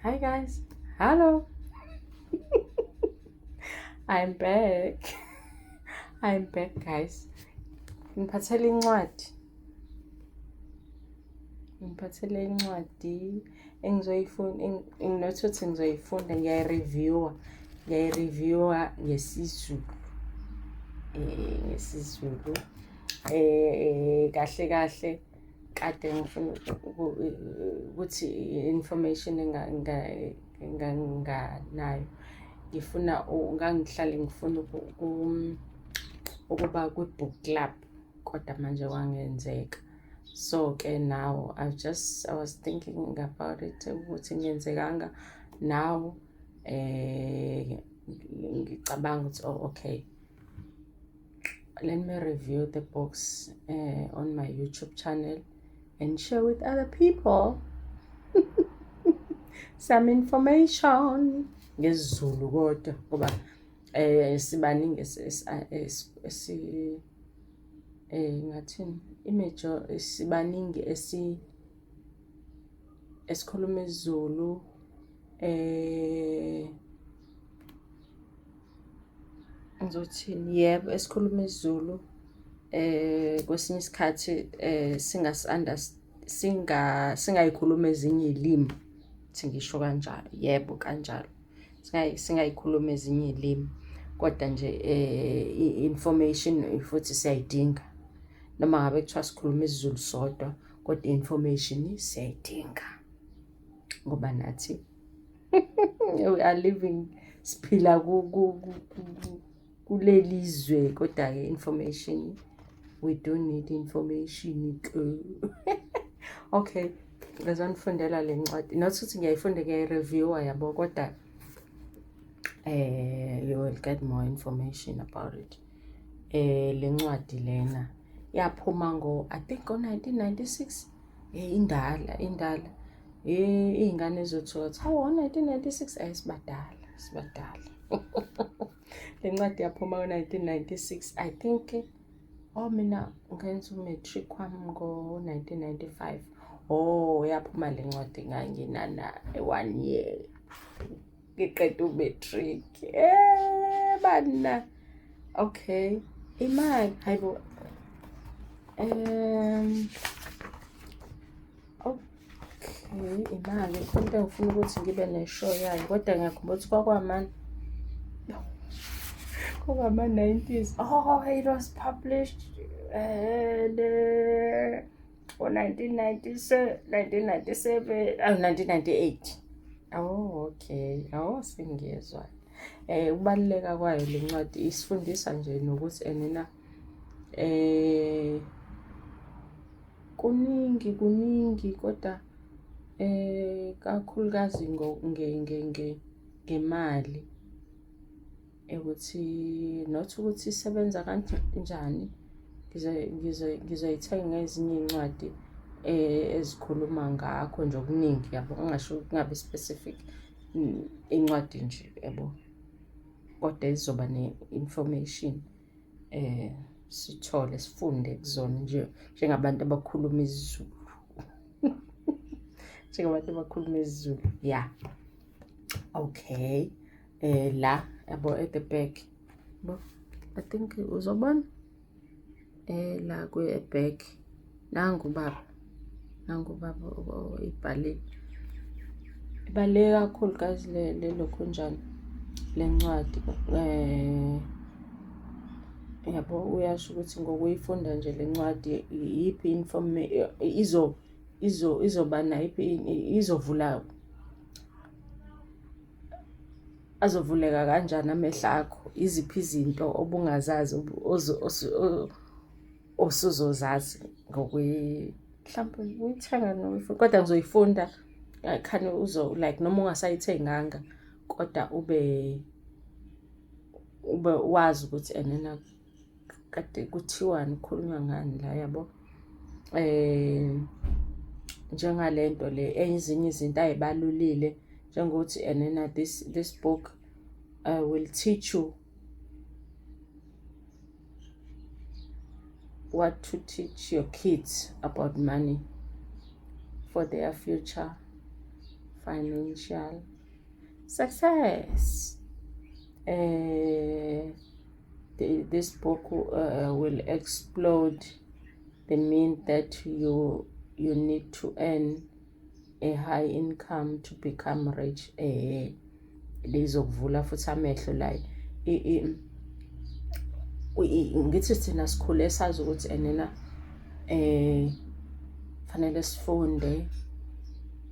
Hi guys. Hello. I'm back. I'm back guys. Ngiphathele incwadi. Ngiphathele incwadi engizoyifunda nginothi ukuthi ngizoyifunda ngiyayireviewa. Ngiyayireviewa ngesizulu. Eh ngesizulu. Eh kahle kahle kade ngifuna ukuthi information enganganayo ngifuna ngangihlale ngifuna ukuba kwi-book club kodwa manje kwangenzeka so ke now i just i was thinking about it ukuthi ngenzekanga now eh ngicabanga ukuthi oh okay let me review the books uh, on my YouTube channel and share with other people some information ngesiZulu kodwa ngoba eh sibaningi esi eh ngathini imajor sibaningi esi esikhuluma isiZulu eh Ngizothini? Yebo, esikhuluma isiZulu eh kwesinye isikhathi eh singasi singa singayikhulumi ezinye iy'limi ukuthi ngisho kanjalo, yebo kanjalo. Singayikhulumi ezinye iy'limi kodwa nje eh information futhi siyayidinga noma ngabe kuthiwa sikhuluma isiZulu sodwa kodwa information siyayidinga ngoba nathi. we are living siphila kuleli zwe kodwa-ke information we don't need information ke okay ngizonifundela le ncwadi not ukuthi ngiyayifunda ngiyayireviewa yabo kodwa eh you will get more information about it eh le ncwadi lena yaphuma ngo i think ngo 1996 eh indala indala Eh izingane zothotha. Hawu 1996 ayisibadala, sibadala. Lencwadi yaphuma ngo-1996. I think oh mina ngenza u-matric wami ngo-1995. Oh yaphuma lencwadi nganginana one year. ngiqeda umatric eh bana okay imali hayibo um okay imali into engifuna ukuthi ngibe neshow yayo kodwa ngiyakhumbula ukuthi kwakwamani kwakwama-90s oh it was published uh, ngo-1997 awu 1998 awu okay awu sengiyezwa eh ukubaluleka kwayo le ncwadi isifundisa nje nokuthi enina eh kuningi kuningi kodwa eh kakhulukazi ngemali ukuthi not ukuthi isebenza kanjani ngizoyithenga ngezinye iy'ncwadi eh, ezikhuluma ngakho nje okuningi yabo ungasho kungabi specific mm, incwadi nje yabo kodwa izoba ne-information eh sithole sifunde kuzona nje njengabantu abakhuluma isiZulu njengabantu abakhuluma isiZulu ya okay eh la yabo at the back bo i think uzobona eh la kwe back nangu baba nangu baba ibhalile ibaluleke kakhulu guys le le lokho njani lencwadi eh yabo uyasho ukuthi ngokuyifunda nje lencwadi iyiphi inform izo izo izoba nayiphi izovula azovuleka kanjani amehlo akho iziphi izinto obungazazi osuzozazi ngokwe mhlawumbe uyithenga noma kodwa ngizoyifunda khani uzo like noma ungasayithenganga kodwa ube ube wazi ukuthi enena kade kuthiwani kukhulunywa ngani la yabo eh njengale nto le ezinye izinto ayibalulile njengokuthi and then uh, this this book uh, will teach you what to teach your kids about money for their future financial success eh the, this book uh, will explode the mean that you you need to earn a high income to become rich eh lizokuvula futhi amehlo la ngithi thina sikhule sazi ukuthi enena eh fanele sifunde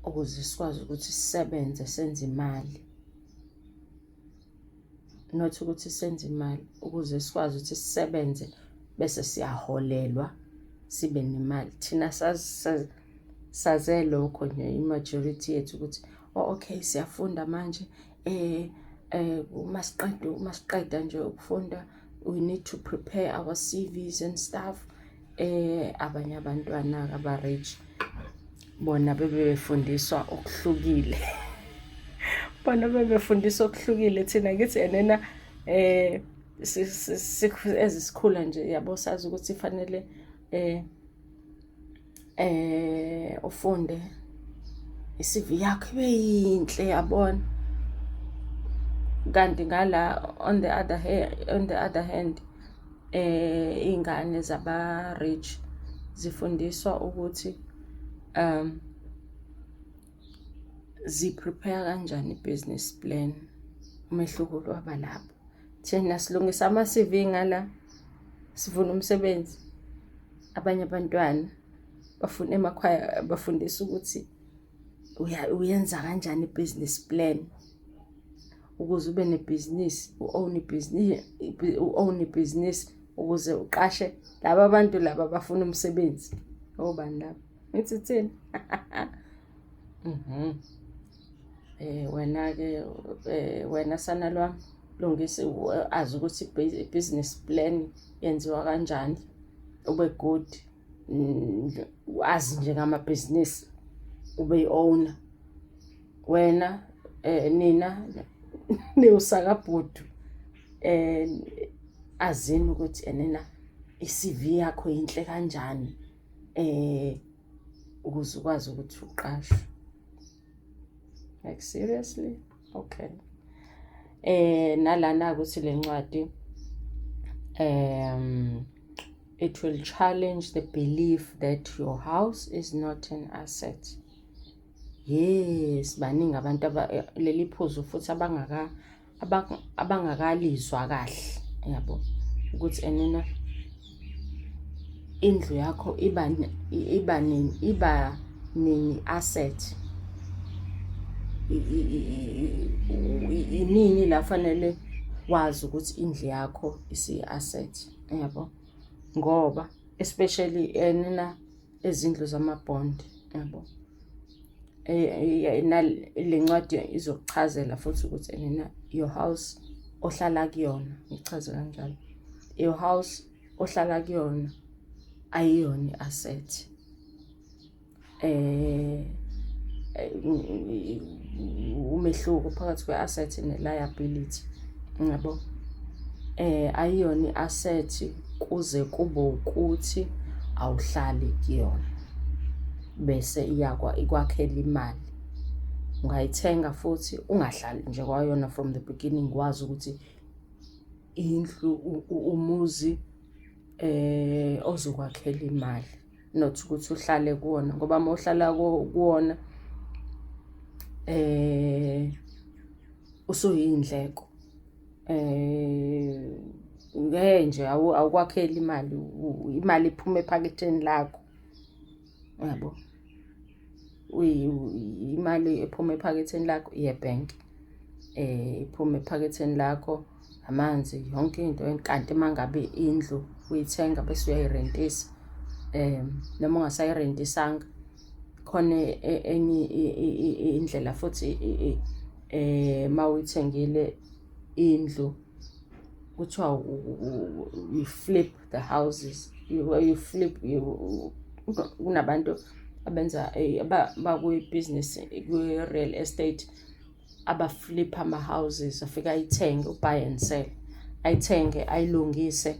ukuze sikwazi ukuthi sisebenze senze imali not ukuthi senze imali ukuze sikwazi ukuthi sisebenze bese siyaholelwa sibe nemali thina saze lokho nje i-majority yethu ukuthi oh, okay siyafunda manje um um uma siqeda uma siqeda nje ukufunda we need to prepare our CVs and stuff eh abanye abantwana aba rich bona bebefundiswa okuhlukile bona bebefundiswa okuhlukile thina kithi enena eh ezisikhula nje yabo sazi ukuthi fanele eh eh ufunde iCV yakho ibe yinhle yabona kanti ngala on the other hand on the other hand eh ingane zaba rich zifundiswa ukuthi um zi prepare kanjani business plan umehluko waba lapho thina silungisa ama CV ngala sivuna umsebenzi abanye abantwana bafuna emakhaya bafundisa ukuthi uyenza kanjani i-business plan ukuze ube nebhizinisi u-own ibhizinisi u-own ibhizinisi ukuze uqashe laba bantu laba bafuna umsebenzi obani laba ngithi thina mhm eh wena ke eh, wena sana lwam lungisa azi ukuthi business plan yenziwa kanjani ube good wazi nje ngama business ube owner wena eh nina niwusakabhudu eh azini ukuthi enena iCV yakho yinhle kanjani eh ukuze ukwazi ukuthi uqashwe like seriously okay eh nalana ukuthi lencwadi um it will challenge the belief that your house is not an asset yes baningi abantu leli phuzu futhi abangaka abangakalizwa kahle yabo ukuthi enena indlu yakho iba iba nini iba nini asset inini la fanele wazi ukuthi indlu yakho isiyi-asset yabo ngoba especially enina ezindlu zama-bond yabo eh, le ncwadi izokuchazela futhi ukuthi enena your house ohlala kuyona ngichaze kanjalo your house ohlala kuyona ayiyona i-asset eh umehluko phakathi kwe-asset ne-liability ngiyabo eh ayiyona i-asset kuze kube ukuthi awuhlali kuyona bese iyakwa ikwakhela imali ungayithenga futhi ungahlali nje kwayona from the beginning wazi ukuthi indlu umuzi eh ozokwakhela imali not ukuthi uhlale kuwona ngoba uma uhlala kuwona eh usuyindleko Eh ngeke nje awukwakheli imali imali iphuma ephaketheni lakho. Yabo. Imali ephuma ephaketheni lakho iye bank. Eh iphuma ephaketheni lakho amanzi yonke into kanti mangabe indlu uyithenga bese uyayirentisa. Eh noma ungasayirentisanga khona e, e, enye indlela futhi eh mawuyithengile indlu kuthiwa you flip the houses you, you flip kunabantu abenza eh, bakwibusiness kwi-real estate abaflipha ama-houses afike ayithenge ubuy and sell ayithenge ayilungise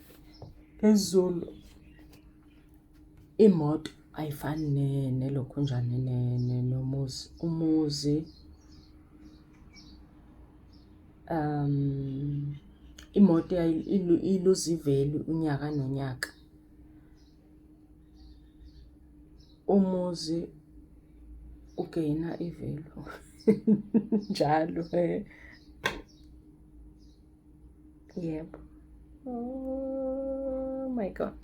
Phezulu imoto ayifani nelokhunjane nomuzi. Umuzi um imoto iluza ivelu unyaka nonyaka. Umuzi ugeyina ivelu njalo . Yebo. Oh my god.